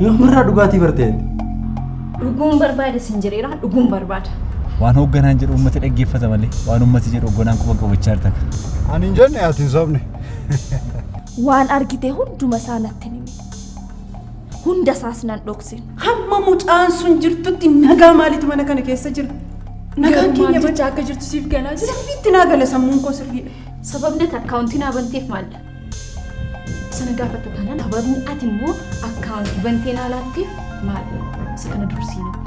Yoomirraa dhugaatii bartee? Dhuguun barbaada sin jedheera dhuguun barbaada. Waan hoogganaan jedhu uummata dhaggeeffata malee waan uummati jedhu hoogganaan quba qabachaa jirta. Ani hin jenne ati hin sobne. Waan argite hunduma isaa natti himi. Hunda isaas nan dhokse. Hamma mucaan sun jirtutti nagaa maalitu mana kana keessa jira? Nagaan keenya jechaa akka jirtu siif galaa jira. Sirriitti naa gala sammuun koo sirriidha. Sababni ati akkaawuntii naa banteef maalidha? Sana gaafatta taanaan sababni ati immoo akkaawuntii bantee naa laatteef maalidha? Isa kana dursii natti.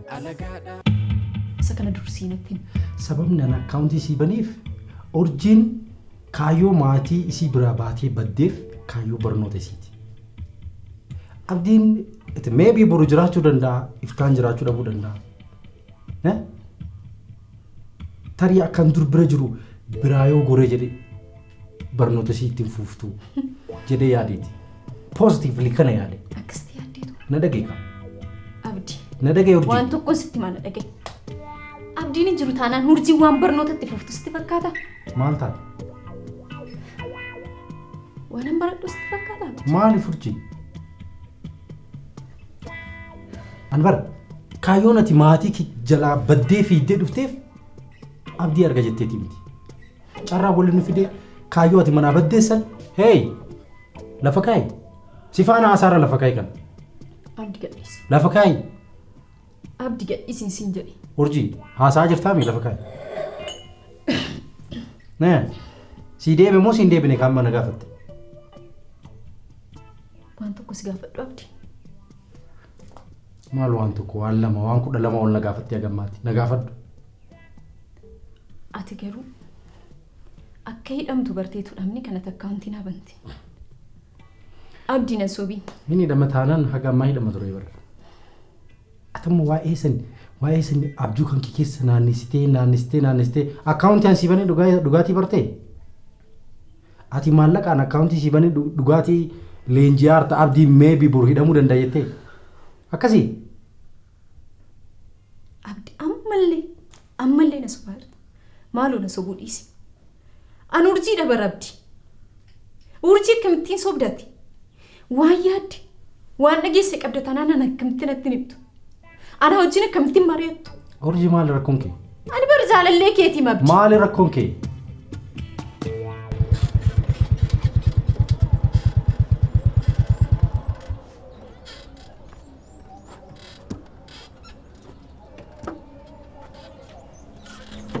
alagaadha. Isa kana dursii natti himi. Sababni an akkaawuntii isii baniif urjiin kaayyoo maatii isii biraa baatee baddeef kaayyoo barnoota isiiti. Abdiin itti meebii boru jiraachuu danda'a iftaan jiraachuu dhabuu danda'a. Eh? Tarii akkan dur bira jiru biraa yoo goree jedhee barnoota isii ittiin fuuftuu jedhee yaadeeti. Positively kana yaade. Akkasitti yaaddeetu. Na dhagee qaba. Abdi. Na dhagee urjii. Waan tokko sitti mana dhagee. Abdiin hin jiru taanaan urjii waan barnoota itti fuuftu sitti fakkaata. Maal taate? Waan hin baradhu sitti fakkaata. Abdi. Maaliif urjii? Anbar, kaayyoon ati maatii kee jalaa baddee fiiddee dhufteef abdii arga jetteeti miti. Carraa wali nu fidee kaayyoo ati manaa baddeessan hey lafa kaayi si faana haasaara lafa kaayi kana Abdi gadhiisi. lafa kaayi Abdi gadhiisi siin jedhe. urjii haasaa jirtaa mi lafa kaayi. Nee sii deeme moo siin deebine kaan mana gaafatte. Waan tokko si gaafadhu Abdi. Maal waan tokko waan lama waan kudha lama ol na gaafattee hagammaatti na gaafadhu. Ati garuu akka hidhamtu barteetu dhabni kanatti akkaawuntii naa bante. Abdii nan sobiin. Inni hidhama taanaan haga ammaa hidhama ture barra. Atamma waa'ee san waa'ee san abjuu kan kee keessa naannessitee naannessitee naannessitee akkaawuntii an sii banee dhugaa- dhugaatii bartee? Ati maallaqaan akkaawuntii sii banee dhu- dhugaatii leenji'aa harta abdii meebii bor hidhamuu danda'a jettee? Akkasii? Abdi ammallee ammallee na sobaa jirta. Maaloo na sobuu dhiisi. An urjii dhabar abdi. Urjii akkamittiin sobdati? Waan yaadde waan dhageesse qabda tanaan an akkamittiin natti hin himtu. Ana wajjin akkamittiin mari'attu? Urjii maali rakkoon kee? Ani bar jaalallee keetii mabdi. Maali rakkoon kee?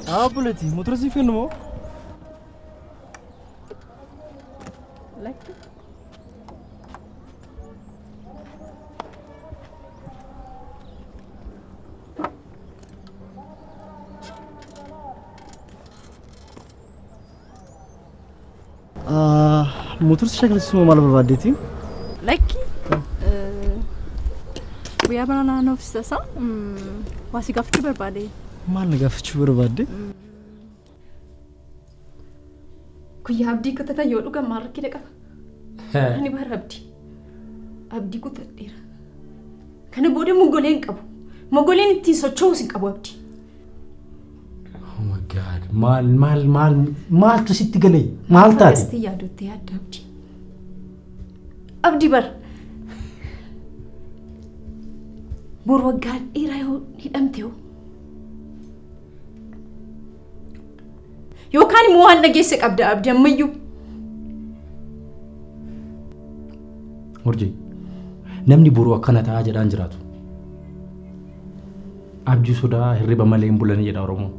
Haa buleeti motora siif kennu moo? Lakki. Motor si shakilsiisu moo maal barbaaddeeti? Lakki guyyaa bara naannoo ofiisa isaa waa si gaafachuu barbaade. Maal na gaafachuu barbaadde? Guyyaa abdii kutatan yoo dhugan maal rakkina qaba? Ani bara abdii. Abdii kutadheera. Kana booda mogoleen qabu. Mogoleen ittiin socho'uus hin qabu abdii. Oh my God. Maal maal maal maaltu sitti galee? Maal taate? Akkasitti yaadutti yaadda abdi. Abdi bar. Bor waggaan dhiiraa yoo hidhamte hoo? Yookaan immoo waan dhageesse qabda abdi ammayyuu. Urjii. Namni boruu akkana ta'aa jedhaan jiraatu. Abjuu sodaa hirriba malee hin bulanii jedha Oromoon.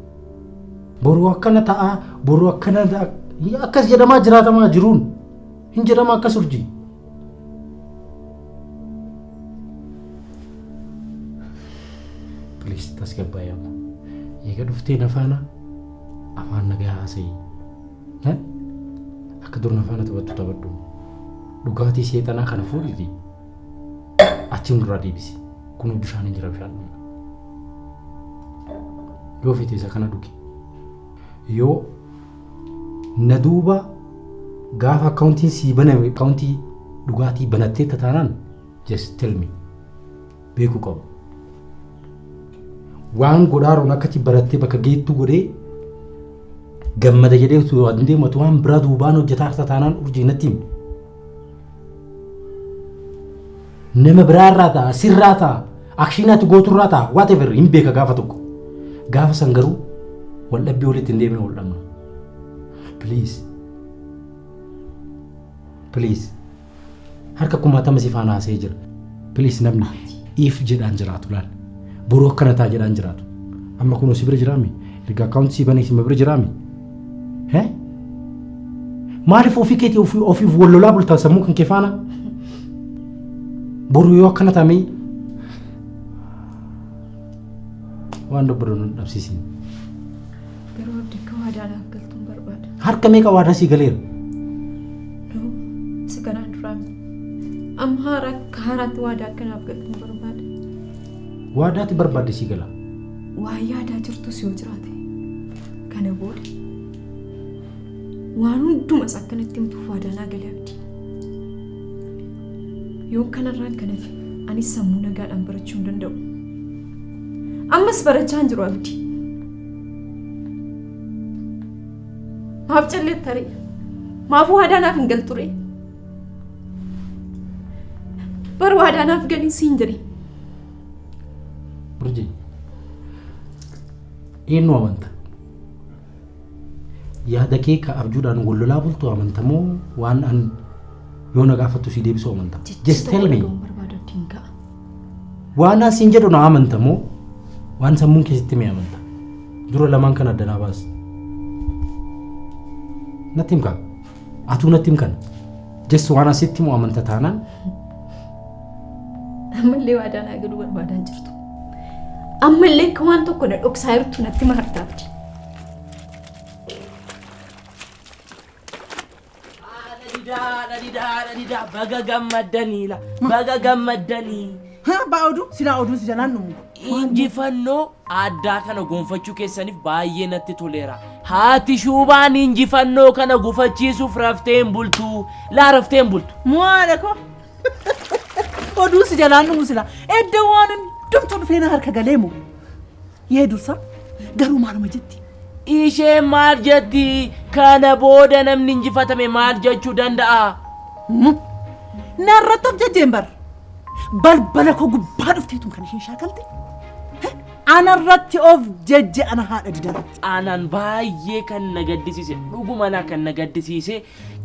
Boruu akkana ta'a, boruu akkana ta'a. Akkas jedhamaa jiraatamaa jiruun. Hin jedhama akkas urjii. Please tasgabbaa'ii amma. Eega dhuftee na faana afaan nagaa haasa'ii. Eh? Akka dur na faana taphattu taphadhu. Dhugaatii seexanaa kana fuudhiti. Achi nurraa deebisi. Kun bishaan hin jira bishaan dhugna. Yoo feete isa kana dhugi. Yoo na duuba gaafa akkaawuntiin sii baname akkaawuntii dhugaatii banattee tataanaan just tell me beekuu qabu. Waan godhaaruun akkati barattee bakka geettuu godhee gammada jedhee utuu waan deematu waan biraa duubaan hojjetaa tataanaan urjii natti himi. Nama biraa irraa ta'a, sirraa ta'a, akshiin ati gootu irraa ta'a, whatever hin beeka gaafa tokko. Gaafa san garuu wal dhabbii walitti hin deebine wal dhabna. Please. Please. Harka kumaatama si faana haasee jira. Please namni if jedhaan jiraatu laal. Boruu akkana ta'a jedhaan jiraatu. Amma kunoo si bira jiraami. Erga akkaawunti si banee si bira jiraami. Eh? Maaliif ofii keetii ofii ofiif wal lolaa bultaa sammuu kan kee faana? Boru yoo akkana taamee waan dubbadhu nu dhabsiisin. Garuu abdi akka waadaa naaf galtuun barbaada. Harka meeqa waadaa sii galeera? Nuu isa kanaan duraa miti. Amma haara akka haaraatti waadaa akka naaf galtuun barbaada. Waadaatti barbaadde sii gala. Waa yaadaa jirtus yoo jiraate Kana booda waan hundumas akkanatti himtuuf waadaanaa galee abdi. Yoon kanarraan kan hafe anis sammuu nagaadhaan barachuu hin danda'u. Ammas barachaa hin jiru abdi. Maaf callee taree? Maaf waadaanaaf hin galturee? Bar waadaanaaf galii siin jedhee. Urjii. Eenyu amanta? Yaada kee ka abjuudhaan wal lolaa bultu amanta moo waan an yoo na gaafattu si deebisu amanta? Just tell me. Waan an siin jedhu na amanta moo waan sammuun keessatti mee amanta? Dura lamaan kan adda naa baas. Natti himkaa? Atuu natti himkan? Just waan asitti moo amanta taanaan Ammallee waadaa naa galuu barbaadaan jirtu. Ammallee akka waan tokko na dhoksaa jirtu natti maartaa abdi. Baga gammaddaniila. Baga gammaddanii. Ha abbaa oduu silaa oduun si jalaan dhumu. Injifannoo addaa kana gonfachuu keessaniif baay'ee natti toleera. Haati shuubaan injifannoo kana gufachiisuuf rafteen bultu. Laa rafteen bultu. Mo'aadha koo Oduu si jalaan dhumu sila. Edda waan hundumtuu dhufee na harka galee moo? Yee dursa garuu maaluma jetti? Isheen maal jetti? Kana booda namni injifatame maal jechuu danda'a? Narratti of jajjeen bar. Balbala koo gubbaa dhufteetum kan isheen shaakalte. Anarratti of jajje ana haadha didarratti. Aanan baay'ee kan na gaddisiise dhuguma anaa kan na gaddisiise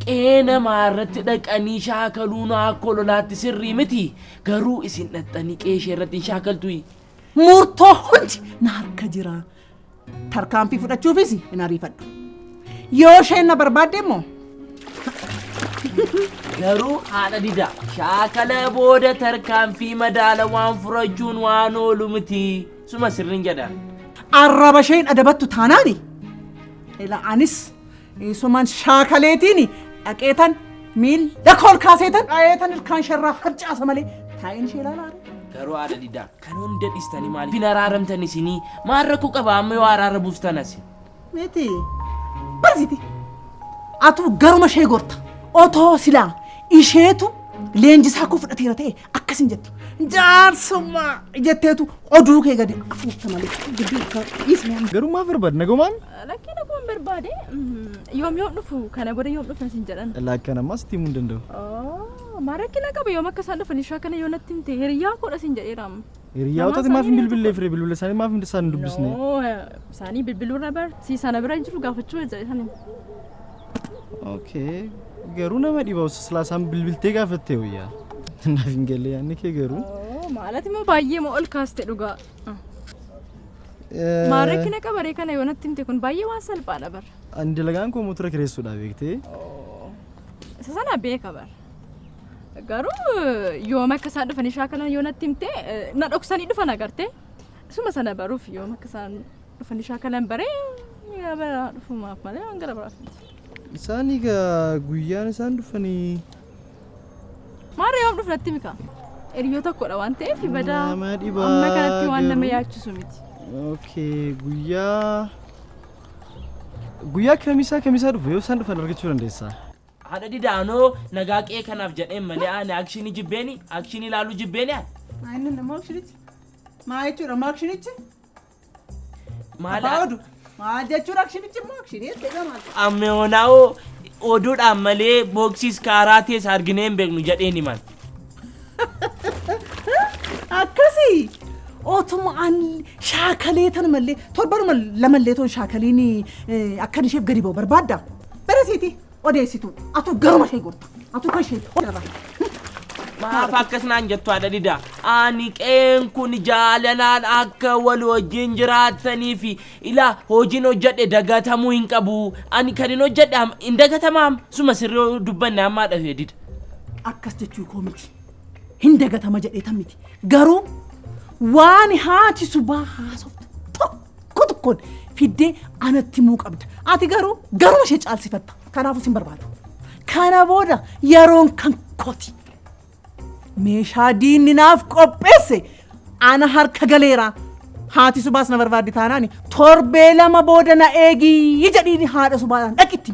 Qe'ee namaa irratti dhaqanii shaakaluun akka ololaatti sirrii miti. Garuu isin dhaqxanii qe'ee ishee irratti hin shaakaltuyi. Murtoo hundi na harka jira. Tarkaanfii fudhachuufis hin ariifadhu. Yoo isheen na barbaadde immoo Garuu haadha didaa shaakala booda tarkaanfii madaala waan furachuun waan oolu miti. Suma sirriin jedha. arraba isheen adabattu taanaani. Ila anis Isuman shaakaleetiin dhaqeetan miilla koo ol kaaseetan dhayeetan ilkaan isheerraa harcaasa malee taa'een ishee ilaalaa ree. Garuu haadha didaa kan hunda dhistanii maaliif hin araaramtan isinii maal rakkoo qaba amma yoo araara buustan asi. Miti. Barsiti. Atu garuma ishee gorta. Otoo silaa isheetu leenjisaa koo fudhateera ta'e akkas hin jettu. Jaarsummaa jetteetu oduu kee gadi afuufta malee gidduu akka dhiisne amma. Garuu maaf barbaadde nagumaan? Lakkii nagumaan barbaade yoom yoom dhufu kana booda yoom dhufna sin jedhan. Laakkan ammaa sitti himuu hin danda'u. Maa rakkina qaba yoom akka isaan dhufan ishee akkana yoo natti himte hiriyyaa koodha sin jedheera amma. Hiriyyaa otati maaf hin bilbillee fire bilbila isaanii maaf hin isaan hin dubbisne? Isaanii bilbiluu irra bar si sana bira jiru gaafachuu jira isaanii. Okay. Garuu nama dhiba osoo silaasaan bilbiltee gaafattee wayyaa. Naaf hin galle yaanni kee garuu. Oo, maalati immoo baay'ee moo ol kaaste dhugaa. Maal rakkina qabaree kana yoo natti himte kun baay'ee waan salphaadha bara. Ani dalagaan koo motora kireessuudhaa beektee. Isa sana beeka bara. Garuu yooma akka isaan dhufanii shaakalan yoo natti himte eh, na dhoksanii dhufan agartee. Isuma sana baruuf yooma akka isaan Fanishaa kanan baree yaa bara dhufumaaf malee waan gara biraaf miti. Isaan egaa guyyaan isaan dhufanii Maarra yoom dhufnatti mika? Hiriyyoo tokkodha waan ta'eef badaa Nama dhibaa amma kanatti waan nama garuu. yaachisu miti. okay guyyaa guyyaa kamisaa kamisaa dhufu yoo isaan dhufan argachuu dandeessaa. Haadha didaanoo nagaa qe'ee kanaaf jedheen malee ani akshinii jibbeeni akshinii ilaaluu jibbeeni ani. Inni immoo akshinichi. Maa jechuudha immoo akshinichi? Maal Abbaa oduu. Maal jechuun akshinichi immoo akshinii jettee gamaa. Amma yoonaawo oduudhaan malee booksiis kaaraa tees arginee hin beeknu jedheen himan. Akkasii otuma an shaakalee tan mallee torbanuma lamallee toon shaakaliin akkan isheef gadi ba'u barbaadda. Barasiiti. odeessitu atu garuma ishee gorta atu kan ishee odeessa. Maaf akkas naan jettu haadha didaa. Ani qeen kun jaalalaan akka wal wajjin jiraatanii fi ilaa hojiin hojjedhe dagatamuu hin qabu. Ani kan hin hojjedhe am- hin dagatamaam. Suma sirrii dubbanne ammaa dhafee dida. Akkas jechuu koo miti. Hin dagatama jedheetan miti. Garuu waan haati subaa haasoftu tokko tokko tokkoon fiddee anatti himuu qabda. Ati garuu garuma ishee caalsifatta. Kanaafuu sin barbaada. Kana booda yeroon kan kooti. Meeshaa diinni naaf qopheesse ana harka galeera. Haati subaas na barbaaddi taanaan torbee lama booda na eegi jedhiini haadha subaadhaan dhaqitti.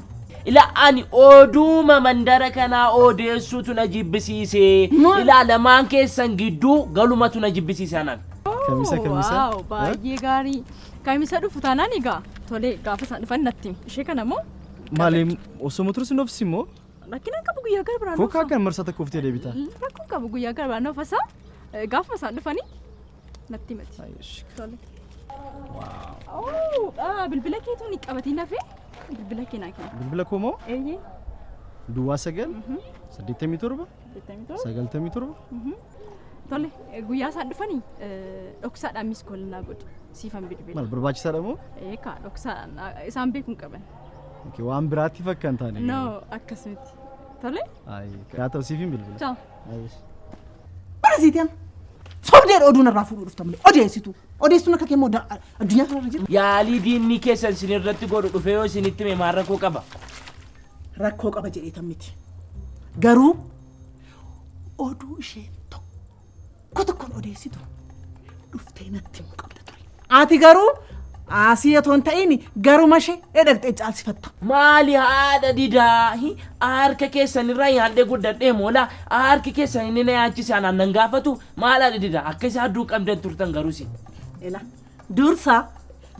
Ila ani oduuma mandara kanaa odeessuutu na jibbisiise. Maal? Ila lamaan keessan gidduu galumatu na jibbisiise anaan. Kamisa kamisa. Waaw baay'ee gaarii. Kamisa dhufu taanaan egaa tolee gaafa isaan dhufan natti himi. Ishee kana moo Maaliin osoo motora sin obsi moo? rakkina hin qabu guyyaa gara biraan Kookaa kan marsaa tokko oftee deebita. Rakkoo hin qabu guyyaa gara biraan ofasaa gaafuma isaan dhufanii natti himati. Tole. Oo, ah, bilbila keetu ni qabatiin hafee bilbila kee naa kenna. Bilbila koo moo? Eeyyee. Duwwaa sagal saddeettamii torba sagaltamii torba Tole guyyaa isaan dhufanii dhoksaadhaan miis kool naa godhi siifan bilbila. maal barbaachisaadha moo Eekaa dhoksaadhaan naa- isaan beekuu hin qaban. Okay, waan biraatti fakka hin taane No akkas miti. Tole Ayi, yaa ta'u siif hin bilbila ciao. Ayi. Barsiiteen sobdeen oduu narraa fuudhuu dhufta malee odeessitu odeessuun akka kee immoo da- addunyaa kanarra jira. Yaalii diinni keessan isin irratti godhu dhufee yoo isinitti hime maal rakkoo qaba? rakkoo qaba jedheetan miti. Garuu oduu isheen tokko tokkoon odeessitu dhuftee natti himuu qabda ture. Ati garuu asii otoo hin ta'in garuma ishee dhaqxee caalsifatta. Maali haadha didaa hi- harka keessan irraa nyaadhee guddadhee moola harki keessan inni na yaachise anaan nan gaafatu maal haadha didaa akka isaa adduu qabdan turtan garuu si. Ela dursa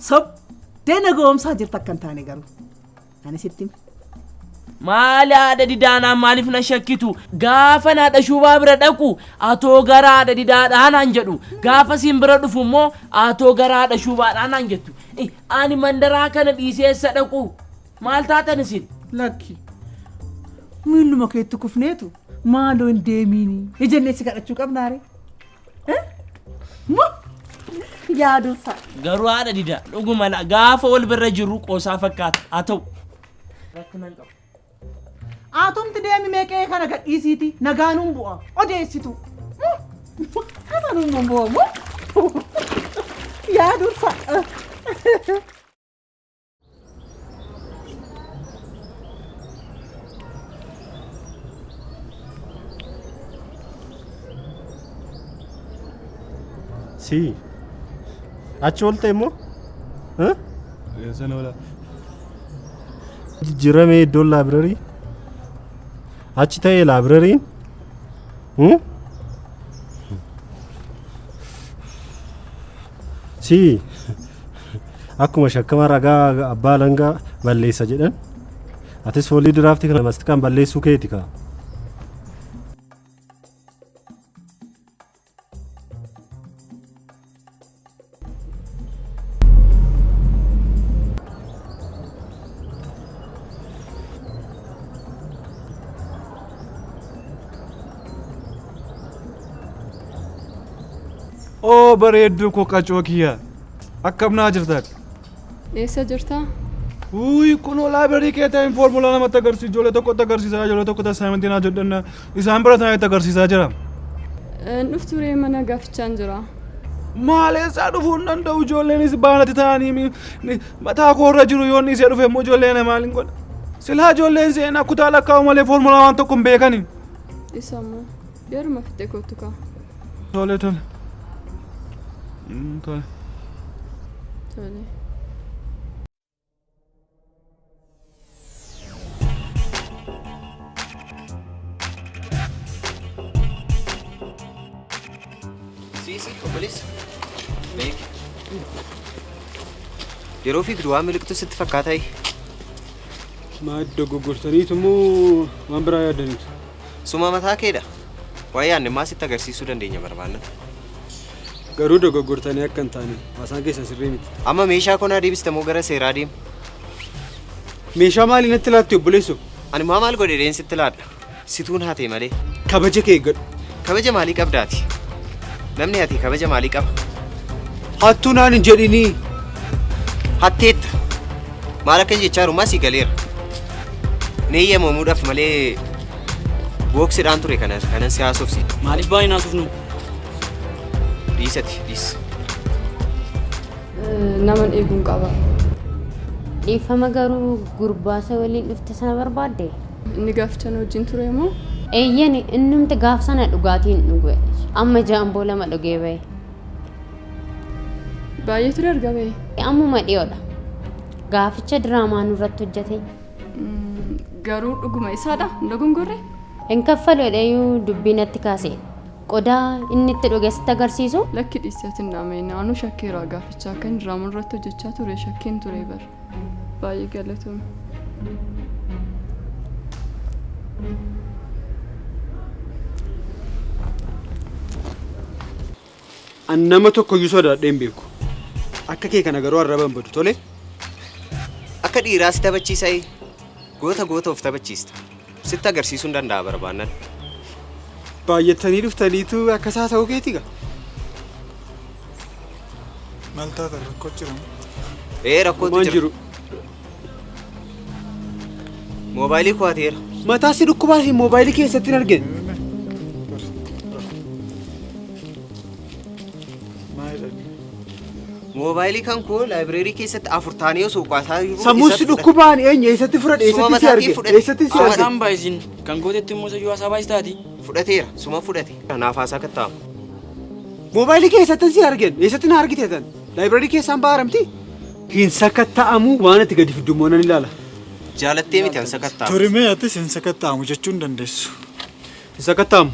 sobdee na goomsaa jirta akka hin taane garuu. Ani sitti hime. Maali haadha didaanaan maaliif na shakkitu? Gaafan haadha shubaa bira dhaqu atoo gara haadha didaadhaa naan jedhu. Gaafa siin bira dhufu immoo atoo gara haadha shubaadhaa naan jettu. I, Ani mandaraa kana dhiisee eessa dhaqu? Maal taatan isin? Lakki. Miilluma keetti kufneetu maaloo hin deemiini. Ijennee si kadhachuu qabnaare. Yaadunsa. Garuu haadha dida dhuguma la- gaafa wal bira jirru qoosaa fakkaata haa ta'u. Rakkinaan qabu. Atumti deemi meeqee kana gadhiisiiti nagaanuun bu'a odeessitu. Kananuun bu'a moo? Yaadunsa. Si. Achi oolte immoo? Huh? Eessan oola. Jijjiiramee iddoon laabirarii? Achi ta'ee laabirariin? Hmm? Si akkuma shakkama ragaa abbaa alangaa balleessa jedhan atis foolii diraaftii kana mastikaan balleessuu keeti kaa. Oo bareedduu koo qacoo kiyya akkam naa jirta ati? Eessa jirta? Uuyi kunoo laabireerii kee ta'een foormulaa namatti agarsiisa ijoollee tokkotti agarsiisa ijoollee tokkotti assaayimentii naa jedhanna isaan barataan itti agarsiisaa jira. Hin dhuftu ree mana gaafachaan jira. Maaleessaa dhufuu hin danda'u ijoolleenis baanatti ta'anii mi- mi- mataa koo irra jiru yoon dhiisee dhufe immoo ijoollee na maaliin godha. Silaa ijoolleen seenaa kutaa lakkaa'u malee foormulaa waan tokko hin beekani. Dhisamoo. Yeruma fixee kootu kaa. Tole tole. Mm, Tole. Tole. Siisi, obboleessa. Beeki. Yeroo fiigdu waan miliqtu sitti fakkaataa? Maal dogoggortaniitu moo waan biraa yaadaniitu? Suma mataa keedha. Waa'ee aannimmaa sitti agarsiisuu dandeenya barbaanna. Garuu dogoggortanii akka hin taane haasaan keessan sirrii miti. Amma meeshaa konaa deebista moo gara seeraa deema? Meeshaa maaliin natti laatti obboleessu? Ani maa maal godhe deen sitti laadha? Situun hatee malee. Kabaja kee eeggadhu. Kabaja maalii qabdaati? Namni hatee kabaja maalii qaba? Hattuu naan hin jedhinii. Hatteetta. Maal akka jechaa jiru masii galeera. Ni eeyyamamuudhaaf malee booksidhaan ture kana kanan si haasofsi. Maaliif baay'ee naasofnu? Dhiisati dhiis. Naman eeguun qaba. Dhiifama garuu gurbaasa waliin dhufte sana barbaadde? Inni gaafachan wajjin ture moo? Eeyyani innumti gaaf sana dhugaatiin dhuge. Amma jaamboo lama dhugee bahe. Baay'eetu darga ba'e. Ammuma dhiyoodha. Gaaficha diraamaa nurratti hojjete. Garuu dhuguma isaadha hin dogongorre. Hin kaffalu jedheeyyuu dubbii natti kaase. Qodaa inni itti dhuge sitti agarsiisu. Lakki dhiiseetiin dhaame naanoo shakkeeraa gaaficha akka inni diraamaa nurratti hojjechaa ture shakkeen ture bara. Baay'ee galatoomi. An nama tokkoyyuu sodaadhee hin beeku. Akka kee kana garuu arraba hin badu tole. Akka dhiiraas taphachiisa'ee goota goota of taphachiista. Sitti agarsiisuun danda'a barbaannan. Baay'attanii dhuftaniitu akka isaa ta'uu keeti gaa. Maal taatan rakkoo jiran? Ee rakkootu Waan jira. jiru. Moobaayilii koo hateera. Mataa si dhukkubaa fi moobaayilii keessatti hin argine. Moobaayilii kan koo laayibireerii keessatti afur taanee osoo baasaa jiru. Sammuun si dhukkubaan eenyu eessatti fudhadhe eessatti si arge eessatti si arge. Kan baay'isin kan gootetti immoo sayyuu haasaa baay'is taati. Fudhateera suma fudhate. Kanaaf haasaa kattaa'amu. Moobaayilii keessatti si argen eessatti na argite tan laayibireerii keessaan baaramti. Hin sakatta'amu waan itti gadi fiddummoo nan ilaala. Jaalattee miti an sakatta'amu. Turimee atis hin sakatta'amu jechuun dandeessu. Hin sakatta'amu.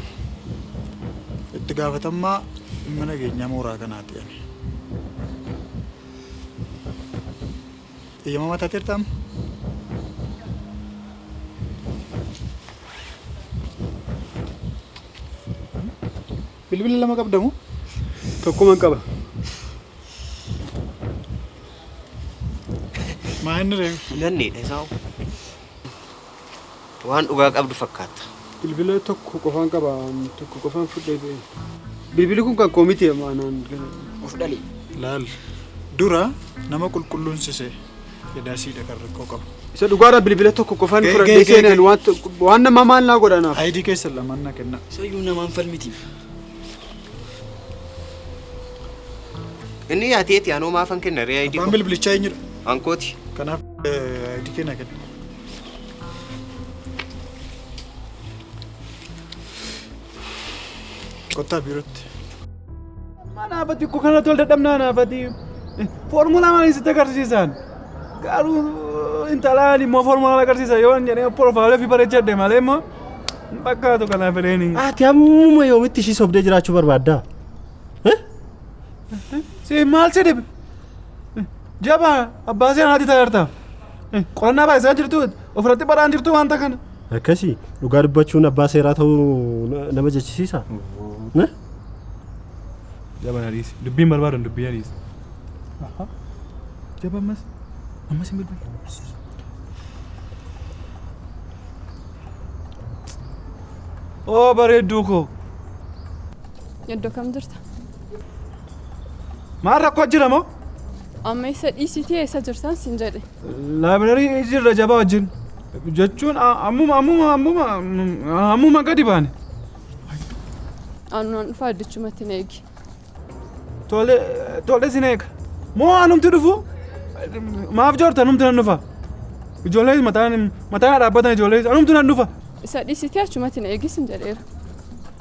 Itti gaafatammaa dhimma nageenyaa mooraa kanaati ani. Eeyyamamaa taateerta amma? Bilbila lama qabda moo? Tokkuman qaba. Maa inni reefu? Nanneedha isaa. Waan dhugaa qabdu fakkaatta. Bilbila tokko qofaan qaba tokko qofaan fudhee ba'e. Bilbili kun kan koo miti anaan gala. Of dhali. Laal dura nama qulqulluun sise edaasiidha kan rakkoo qabu. Isa dhugaadha bilbila tokko qofaan Ga'e, fudhadhee ga'e, ga'e, seenaan ga'e. waan to- waan nama maal naa godhanaaf. Ayidii keessa lamaan na kenna. Sayyuu namaan falmiti. Inni yaateeti anoo maafan kenna ree ayidii Abbaan koo. bilbilichaa eenyudha? Ankooti. Kanaaf ayidii kee na kenna. Kottaa biirootti. Manaafati koo kana tol dadhabnaa anaafati. Foormulaa maaliin sitti agarsiisan? Garuu intalaan immoo foormulaa agarsiisa yoo hin jedhee porofaalii fi bareechadhe malee immoo hin fakkaatu kanaaf fedheeni. Ati ammuma yoomitti ishii sobdee jiraachuu barbaaddaa? Si maal si dhibe? Jabaa abbaa seenaatti taa'erta. Qorannaa baay'isaa jirtu ofirratti baraan jirtu wanta kana. Akkasi dhugaa dubbachuun abbaa seeraa ta'uu na- nama jechisiisa. Na? Jaban ariisi. Dubbiin barbaadan dubbii ariisi. Jaba ammas. Ammas hin beeku. Oo bareedduu koo. Iddoo kam jirta? Maal rakkoo jira moo? Amma isa dhiisitii eessa jirtan sin jedhe. Laabireerii jirra jabaa wajjin. Jechuun a- ammuma ammuma ammuma ammuma gadi baane. Aannan dhufaa iddichumatti na eegi. Tole tole sin eega. Moo anumti dhufu? Maaf joorta anumti nan dhufa. Ijoollee mataan mataan dhaabbatan ijoollee anumti nan dhufa. Isa dhiisitii achumatti na eegi sin jedheera.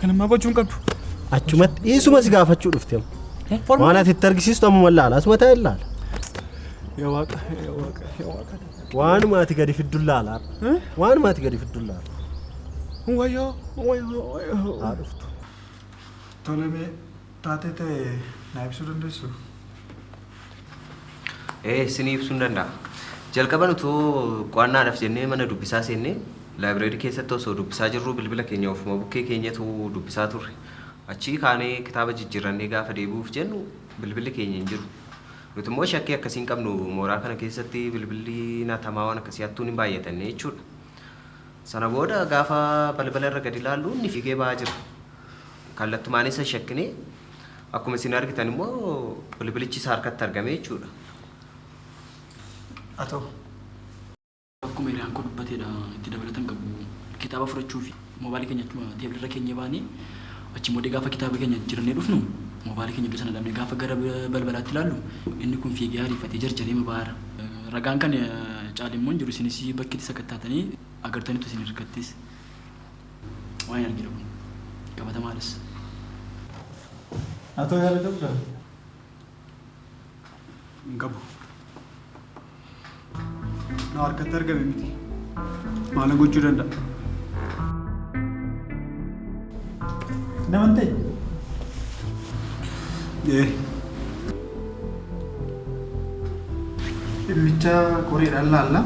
Kan ammaa gochuu hin qabdu. Achumatti dhiisuma si gaafachuu dhufte. Waan ati itti argisiistu ammuma ilaala. Asuma taa'e ilaala. Yaa waaqa, yaa waaqa, yaa waaqa. Waanuma ati gadi fiddu ilaala. Waanuma ati gadi fiddu ilaala. Wayyoo, wayyoo, wayyoo. Haa dhuftu. Tolemee taatee ta'e naa ibsuu dandeessu? Ee, isinii ibsuun danda'a. Jalqaban utuu qo'annaadhaaf jennee mana dubbisaa seennee laayibireerii keessatti osoo dubbisaa jirruu bilbila keenya ofuma bukkee keenyatu dubbisaa turre. Achii kaanee kitaaba jijjiirrannee gaafa deebi'uuf jennu bilbilli keenya hin jiru. Nuti immoo shakkii akkasii hin qabnu mooraa kana keessatti bilbilliin hatamaa waan akkasii hattuun hin baay'atanne jechuudha. Sana booda gaafa balbala irra gadi ilaallu inni fiigee ba'aa jira. Kallattumaan isa shakkine. Akkuma isin argitan immoo bilbilichi isa harkatti argame jechuudha. Atoo. Akkuma hiriyaan koo dubbatedha itti dabalatan qabu. Kitaaba fudhachuu fi mobaayilii keenya achuma teebilirra keenyee baane. Achiin booddee gaafa kitaaba keenya jijjiirannee dhufnu moobaayilii keenya iddoo sana dhabne. Gaafa gara balbalaatti ilaallu inni kun fiigee ariifatee jarjareema ba'aara. Ragaan kan caale immoo hin jiru. Isinis bakki itti sakattaatanii agartanitu isin hirkattis. Waan hin argine kun qabatamaadhas. Atoo yaada qabdaa? Hin qabu. Na harkatti argame miti. Maala gochuu danda'a? Naman ta'e. Ee. Dhimmicha qoreedhaan laalla.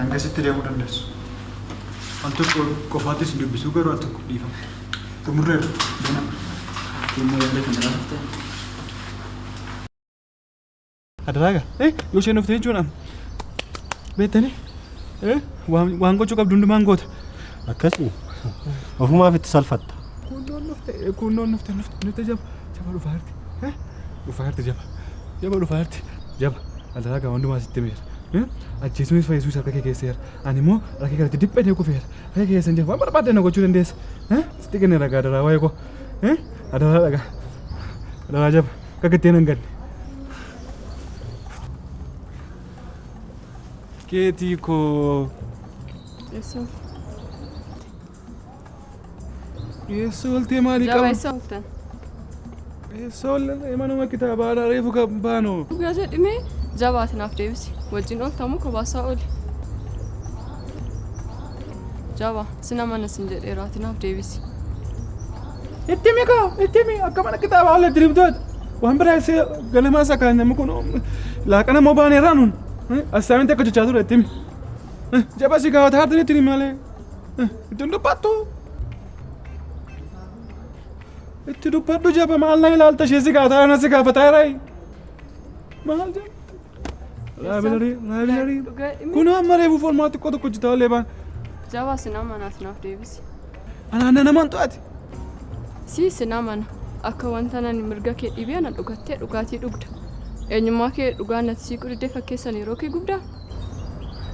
Hangasitti deemuu dandeessu. Al tokko qofaattis hin dubbisuu garuu al tokko dhiifama. Xumurreerra. Deemaa. Dhimma yaada kana laafte. Adaraaga. Eh, yoo isheen dhuftee jechuun amma. Beektanii? Eh, waan waan gochuu qabdu hundumaan goota. Akkasii. Ofumaaf itti salfatta. Kunnoon dhufte, eh, kunnoon dhufte, dhufte, dhufte jaba. Jaba dhufaa jirti. Eh, dhufaa jirti jaba. Jaba dhufaa jirti. Jaba. Adaraaga hundumaa sitti meera. Eh, ajjeesuunis fayyisuus harka kee keessa jira. Ani immoo harka kee irratti dhiphee deeku feera. Harka kee keessa hin jiru. Waan barbaadde na gochuu dandeessa. Eh, sitti kenneera gaa adaraa waa'ee koo. Eh, adaraa dhagaa. Adaraa jaba. Akka gattee nan galle. Keetii koo. Eessa ooltan? Eessa ooltee maalii Jaba qaba? eessa ooltan? Eessa ooltee manuma kitaabaa irraa reefu kan baanu. Dhugaa jedhime jabaati naaf deebisi. Wajjin ooltamu kobaasaa ooli. Jaba sina mana sin jedheeraati naaf deebisi. Itti himi kaa, itti himi akka mana kitaabaa olee diriim taate. Waan biraa isee ganamaa isaa kaan namni kun laaqana moo baanee irraa nuun. Assaaminti akka jechaa ture itti himi. Jaba si gaafata haati itti himi malee. Itti hin dubbattu. Itti dubbadhu jaba maal na ilaalta ishee si gaafata ana si gaafata irraa. Maal jaba. Laabilarii, laabilarii. Dhugaa dhimmi- Kun amma reefu formaa xiqqoo tokko hojjetaa olee baan. Jabaa sinaa manaas naaf deebisi. Anaan na namaan to'ate. Si sinaa mana akka wanta nani mirga kee dhibee ana dhugattee dhugaatii dhugda. Eenyummaa kee dhugaa nati siiquu diddee fakkeessan yeroo kee gubdaa.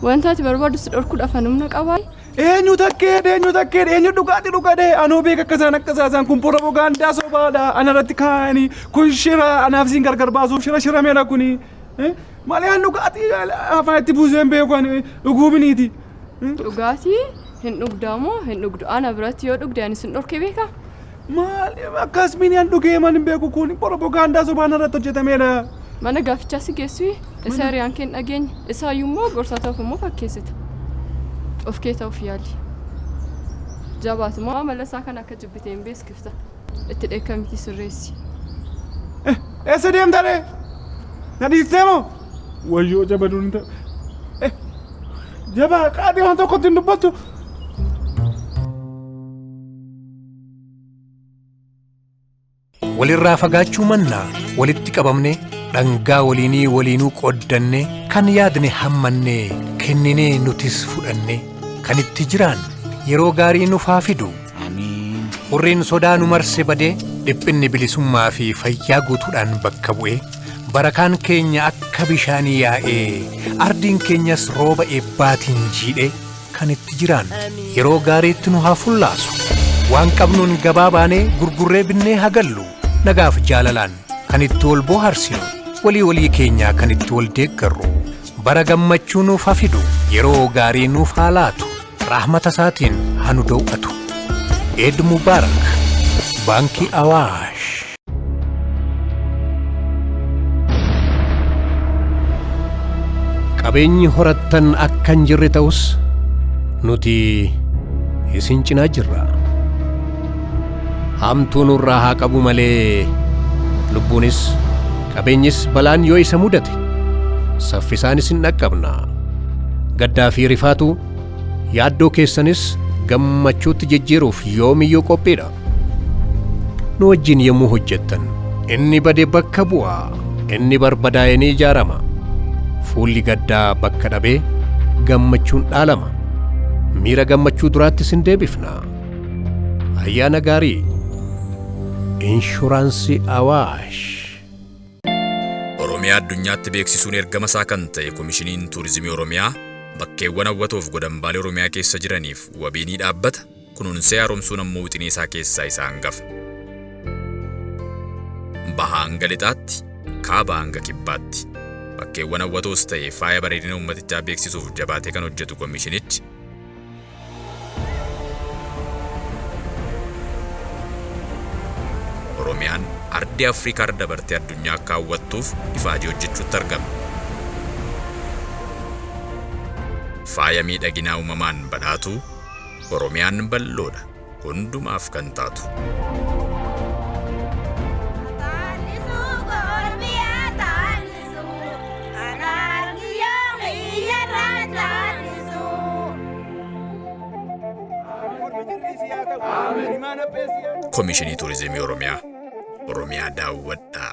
Wanta ati barbaaddu si dhorkuudhaaf ani humna qabaa? Eenyu takkeedha eenyu takkeedha eenyu dhugaati dhugadhe anoo beeka akka isaan akka isaan kun poropogaandaa sobaadha ana irratti kaa'anii kun shira anaaf isin gargar baasuuf shira shirameera kuni malee an dhugaati afaan itti buuseen beeku ani dhuguu biniiti. Dhugaatii hin dhugdaamoo hin dhugdu ana biratti yoo dhugde ani sin dhorke beekaa? Maal akkas miniyan dhugee man hin beeku kun poropogaandaa sobaan irratti hojjetameedha. Mana gaafichaa si geessu isa hiriyaan kee hin dhageenye isaayyuu immoo gorsaa ta'uuf immoo fakkeessita. Of kee ta'uuf yaali. Jabaatu moo amala isaa kan akka jibbitee hin beeskifta. Itti dheekkamitii sirreessi. Eessa deemta ree? Na dhiistee moo? Wayyoo jabaduun hin ta'e. Jabaa qaadii waan tokkotti hin dubbattu. Walirraa fagaachuu mannaa walitti qabamne dhangaa waliinii waliinuu qooddanne kan yaadne hammannee kenninee nutis fudhanne kan itti jiraan yeroo gaarii nuuf haa fidu. Hurriin sodaa nu marse badee dhiphinni bilisummaa fi fayyaa guutuudhaan bakka bu'ee barakaan keenya akka bishaanii yaa'ee ardiin keenyas rooba eebbaatiin jiidhee kan itti jiraannu yeroo gaariitti nu haa fullaasu waan qabnuun gabaa baanee gurgurree binnee haa gallu nagaaf jaalalaan kan itti wal booharsinu walii walii keenyaa kan itti wal deeggarru bara gammachuu nuuf haa fidu yeroo gaarii nuuf haa laatu rahmata isaatiin haa nu daw'atu eed mubaarak baankii awaash Qabeenyi horattan akka hin jirre ta'us nuti isin cinaa jirra. Hamtuu nurraa haa qabu malee lubbuunis qabeenyis balaan yoo isa mudate saffisaan isin dhaqqabna. Gaddaa fi rifaatu yaaddoo keessanis gammachuutti jijjiiruuf yoomiyyuu qophiidha. nu wajjin yommuu hojjettan inni bade bakka bu'a inni barbadaa'e ni ijaarama fuulli gaddaa bakka dhabee gammachuun dhaalama miira gammachuu duraatti sin deebifna ayyaana gaarii inshuraansii awaash Oromiyaa addunyaatti beeksisuun ergama isaa kan ta'e Komishiniin Tuurizimii Oromiyaa bakkeewwan hawwatoof godambaalee Oromiyaa keessa jiraniif wabii ni dhaabbata. kunuunsee haaromsuun ammoo wixinee isaa keessaa isa hangafa. Bahaa hanga lixaatti, kaabaa hanga kibbaatti bakkeewwan hawwatoos ta'e faaya bareedina uummatichaa beeksisuuf jabaatee kan hojjetu komishinichi, Oromiyaan ardii Afrikaa irra dabartee addunyaa akka hawwattuuf ifaajee hojjechuutti argama. Faaya miidhaginaa uumamaan badhaatuu, Oromiyaan bal'oodha. Hundumaaf kan taatu. Komishinii Turizimii Oromiyaa. Oromiyaa daawwadhaa.